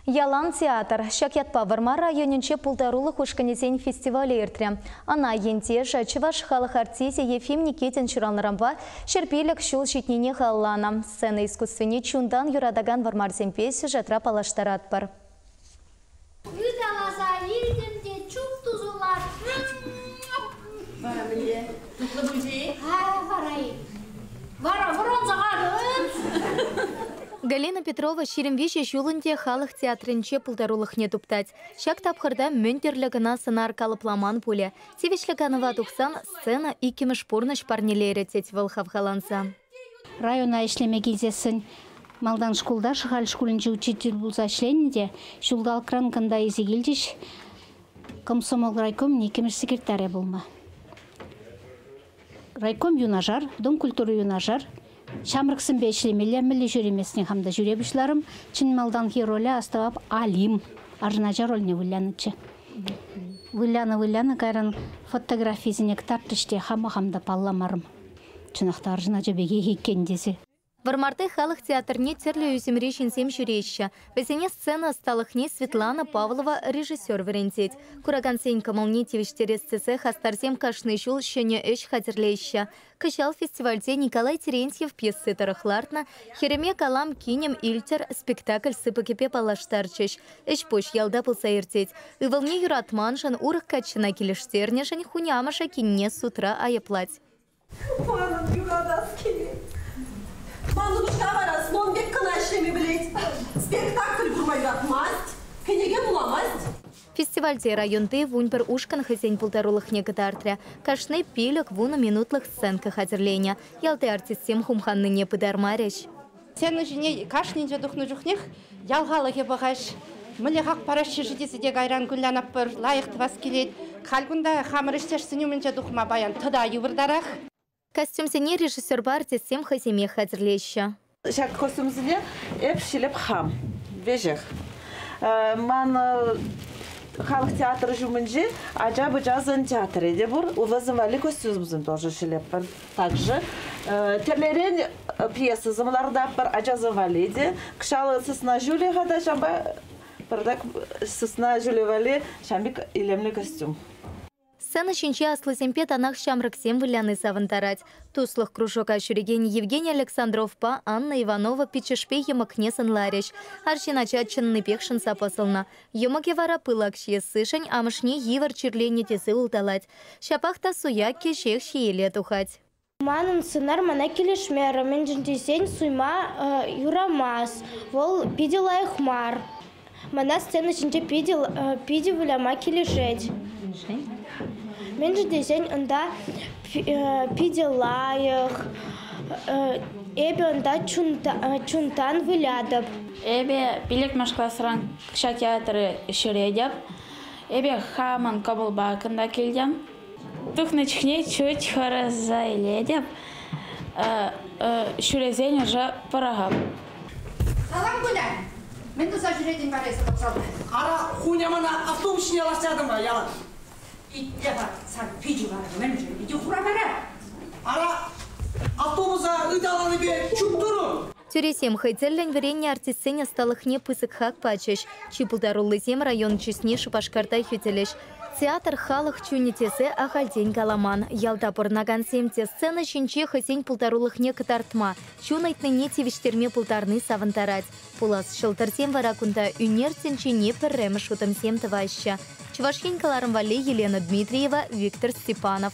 Ялан театр. Ҫак ятпа Вӑрмар районӗнче пултарулӑх ушкӑнӗсен фестивалӗ иртрӗ. Ӑна ентешӗ, чӑваш халӑх артисчӗ Ефим Никитин ҫуралнӑранпа ҫӗрпилӗк ҫул ҫитнине халалланӑ сцена искусствине чунтан юратакан вӑрмарсемпе сюжетра паллаштаратпӑр. Ыталаса илтӗм те чуп тусӑлатъ. Вара мӗнле? Тутлӑ пулчӗ-и? Ха, вара-и? Вара вӑранса кайрӑн! Галина Петрова ҫирӗм виҫӗ ҫул ӗнтӗ халӑх театрӗнче пултарулӑхне туптать. Ҫак тапхӑрта мӗн тӗрлӗ кӑна сӑнар калӑпламан пулӗ. Тивӗҫлӗ канӑва тухсан сцена иккӗмӗш пурнӑҫ парнелерӗ, тет вӑл хавхаланса. Района ӗҫлеме килсессӗн малтан шкулта Шӑхаль шкулӗнче учитель пулса ӗҫленӗ те ҫулталӑкран кунта илсе килчӗҫ. Комсомол райкомӗн иккӗмӗш секретарӗ пулнӑ. Райком юнашар, Дом культури юнашар ҫамрӑксемпе ӗҫлемелле мӗнле ҫӳремесне хам та ҫӳре пуҫларӑм. Чӑн малтанхи роле астӑвап Алим арӑнача рольне вылянӑччӗ. Вылянӑ-вылянӑ кайран фотографисене кӑтартрӗҫ те хама хам та палламарӑм. Чӑнах та арҫын ача пекех иккен тесе. Вӑрмарти халӑх театрне тӗрлӗ ӳсӗмри ҫынсем ҫӳреҫҫӗ. Вӗсене сцена ӑсталӑхне Светлана Павлова режиссер вӗрентет. Куракансен кӑмӑлне тивӗҫтерес тесе хастарсем кашни ҫул ҫӗнӗ ӗҫ хатӗрлеҫҫӗ. Кӑҫал фестивальте Николай Терентьев пьеси тӑрӑх лартнӑ «Хӗрӗме калам, кинӗм илтӗр» спектакль сыпӑкӗпе паллаштарчӗҫ. Ӗҫ-пуҫ ялта пулса иртет. Ывӑлне юратманшӑн, урӑх каччӑна килӗштернӗшӗн хунямӑшӗ кинне судра айӑплать. Манӑн юратас килет. Ман укҫа вара слон пек кӑна ӗҫлеме пӗлет. Спектакль курма юратмасть, кӗнеке вуламасть. Фестивальте районти вун пӗр ушкӑн хӑйсен пултарулӑхне кӑтартрӗ. Кашни пилӗк-вунӑ минутлӑх сценка хатӗрленӗ. Ялти артистсем хумханнине пытармарӗҫ. Сцена ҫине кашнинче тухнӑ чухнех ял халӑхӗ пӑхаҫ. Мӗнле хак параҫҫӗ-ши тесе те кайран Гулянаппӑр лайӑх тӑвас килет. Халь кунта хамӑр ӗҫтешсен умӗнче тухма паян тата йывӑртарах. Костюмсене режиссерпа артистсем хӑйсемех хатӗрлеҫҫӗ. Ҫак костюмсене эп ҫилӗп хам. Веҫех ман халӑх театрӗ ҫумӗнчи ача-пӑчасен театрӗ те пур. Унта сӑввалли костюмсем тоже ҫӗлетпӗр. Также тӗлерен пьесӑсем лартатпӑр ачасем валли те. Кӑҫал сысна ҫулӗ-ха та ҫампа пӗртак сысна ҫулӗ валли ҫампик илемлӗ костюм. Сцена ҫинче аслисемпе танах ҫамрӑксем выляни савӑнтарать. Туслӑх кружока ҫӳрекен Евгений Александровпа Анна Иванова пиччӗшпе йӑмӑкне сӑнларӗҫ. Арҫын ача чӑннипех шӑнса пӑсӑлнӑ. Йӑмӑкӗ вара пылак ҫиессишӗн амӑшне йывӑр чирленӗ тесе улталать. Ҫапах та суя кӗҫех ҫиеле тухать. Манӑн сӑнар мана килӗшмерӗ, мӗншӗн тесен суйма юрамасть. Вӑл питӗ лайӑх мар. Мана сцена ҫинче питӗ, питӗ выляма килӗшет. Мӗншӗн тесен унта Питӗ лайӑх. Эпӗ унта чунтан вылятӑп. Эпӗ Пилӗкмӗш класран укҫа театрӗ ҫӳретӗп. Эпӗ хамӑн кӑмӑлпа кунта килтӗм. Тухнӑ чухне чуть хӑраса илетӗп. Ҫӳресен ӑша пӑрахӑп. Салам куля! Мӗн туса ҫӳретӗн вара эсӗ вокзалта? Ара, хунямана автовуҫне лаҫтартӑм-ха ялан. Итле-ха, сан пичӳ вара мӗншӗн икӗ хуравара? Ара, автобуса ыталанипе чуптурӑм. Тӳресем хӑй тӗллӗн вӗреннӗ артистсен ӑсталӑхне пысӑк хак пачӗҫ. Чи пултаруллисем район чысне Шупашкарта хӳтӗлӗҫ. Театр халӑх чунӗ тесе ахальтен каламан. Ялта пурӑнакансем те сцена ҫинче хӑйсен пултарулӑхне кӑтартма, чун ыйтнине тивӗҫтерме пултарни савӑнтарать. Пулас ҫӑлтӑрсем вара кунта ӳнер тӗнчине пӗрремӗш утӑмсем тӑваҫҫӗ, Чӑваш Ен кӑларӑм валли Елена Дмитриева, Виктор Степанов.